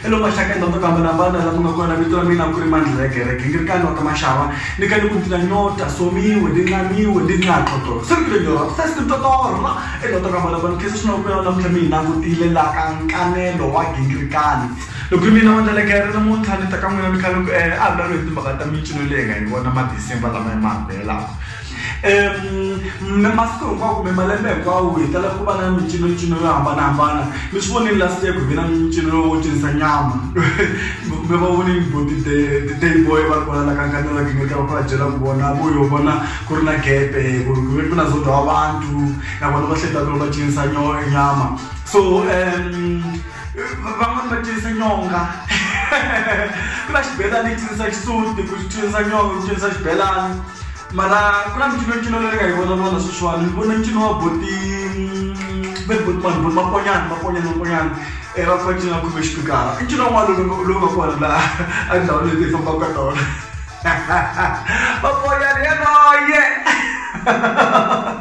Hello mahlakani vanhu vo ku hambanahambana laha mi nga kona vito ra mina ku ri mandlheke re gingirikani wa ta maxava ni ka ni ku ndzi na nyota somiwe ni nqamiwe ni nga xotorha se ni ku lenyora vuhlesi ni totorha e lota ku hambanahambana ni khensa swinene ku vuyela namuntlha mi hina kutile la ka nkanelo wa gingirikani loko ri mina mandleleke re namuntlha ni ta ka n'wina ni kha ni ku a hi vulavuli hi timhaka ta mincino leyi hi nga yi vona ma-december lama hi ma hambelaka Um masiku hinkwawo kumbe malembe hinkwawo hi tala ku va na micinocino yo hambanahambana mi swi vonile last year ku ve na mincino lowo cinisa nyama mi va vonile bo ti-day boy va ri kona la ka nkanelo wa gingirika va kula byela ku vona vo yo vona ku ri na gepe ku ri ku ve ku na zodwa wa vantu na vona va hleta ku ri va cinisa nyama so um van'wani va cinisa nyonga ku na xibelani yi cinisa xisuti ku cinisa nyonga ku cinisa xibelani mara ku na mincino ncino leyi nga yi vona vona sweswiwani ni vona ncino wa boti ve boti vanhu boti makonyana makonyana makonyana e va fane cina khume xipikara i ncino wun'wana lowu nga kona laha a ndhawu leyi ti fambaka ka tona makonyana yaloye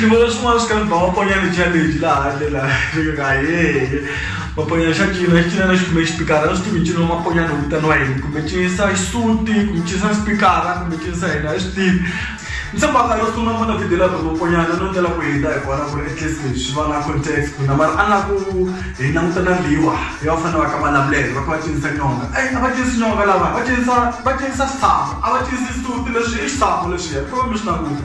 ni vona swin'wana swi karhi ba va ponya lejabeji laha handle laha ka yeye maponya xa cina xi cina na xikume xipikara a swi tivi ncino wa maponya ni vitaniwa yini kumbe cinisa xisuti kumbe cinisa xipikara kumbe cinisa yini a yi swi tivi ni tshembaka yo sungula ni vona video la vamaponyana no tela ku hindza hi kona ku ri at least leswi va na context na mara a nga ku hi languta na liwa ya va fanele va ka malamulelo va ka va cinisa nyonga eyi a va cinisi nyonga lava va cinisa va cinisa xitshamo a va cinisi xisuti leswi i xitshamo leswiya ku va mi swi languta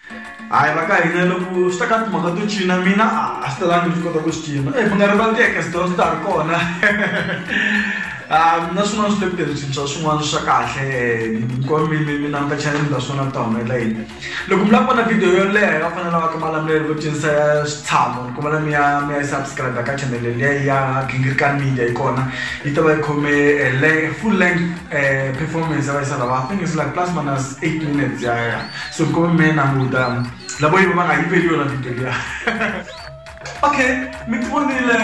hayi va ka hina loko swi ta ka timhaka to cina mina a swi talangi ni swi kota ku swi cina e mi nga rivali ti-ekesdon swi ta ri kona na swin'wana swi le ku tirhiseni swa swin'wana swa kahle hinkwavo mi mi mi languta chanel ta swona mi ta humelela yini loko mi lava ku vona video yo leha va fanele va ka malamulelo vo cinisa ya switshamo ni kombela mi ya mi ya subscribe ka chanel leya ya gingirikani media yi kona yi ta va yi khome full length performance ya va yi sala va i think is like plus minus eight minutes ya ya so ko me na muda la boy ba ga ibeli yona dintho dia okay mi tivonile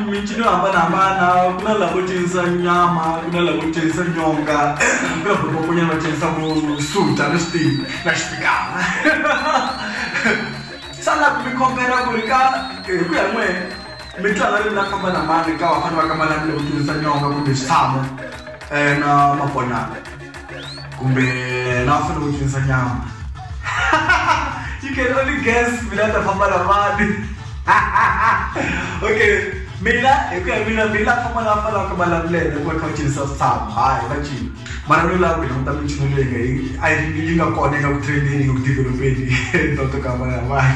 mincino hambanahambana ku na lavo cinisa nyama ku na lavo cinisa nyonga ku na vokombonyana va cinisa vo suta ni switii na xipikana sana ku mi kombela ku ri ka hi ku ya n'we mi tlanga ri na famba na mani ka vafana va ka manani loko cinisa nyonga kumbe switshamo um na mabonana kumbe la u fanele u cinisa nyama you can only guess mina ta famba na mani okay mina hi ku ya mina mina famba la fanelaka malavulele ku va kha va cinisa switshamo hayi va cini mara no lava ku hi languta michini leyi nga yi yi nga kona eka ku trendeni yi ku developeni ntoto ka mani mani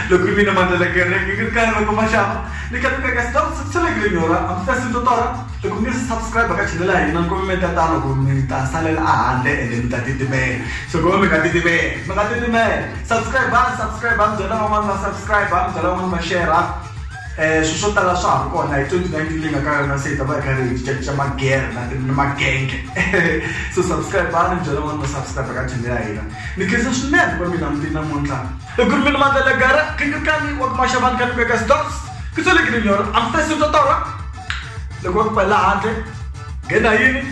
loko mina mandlela kereke ngi ri karhi loko maxava ni ka ni ka ka stop swi tshelekile nyora a mi fesi ntotora Hi ku mi subscribe ka channel ya hina loko mi meta tano ku mi ta salela a handle ende mi ta titimela so ku va mi nga titimela mi nga titimela subscribe va subscribe va mi byela van'wana va subscribe va mi byela van'wana va share um swilo swo tala swa ha ri kona hi twenty nineteen leyi nga ka yona se hi ta va hi karhi hi cincacinca magere na ni magenge so subscribe va ni byela van'wana va subscribe ka channel ya hina ni khensa swinene va mina mutini namuntlha i ku ri mina mandlela gara khingikanyi wa kumaxavani ka ni veka stops ku sele ke ni nyora amfesintotoro loko va ku pfalela handle nghena hi yini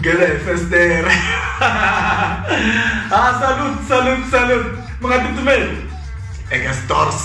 nghena hi festere ha ah, salute salute salute mi nga titimeli eka stores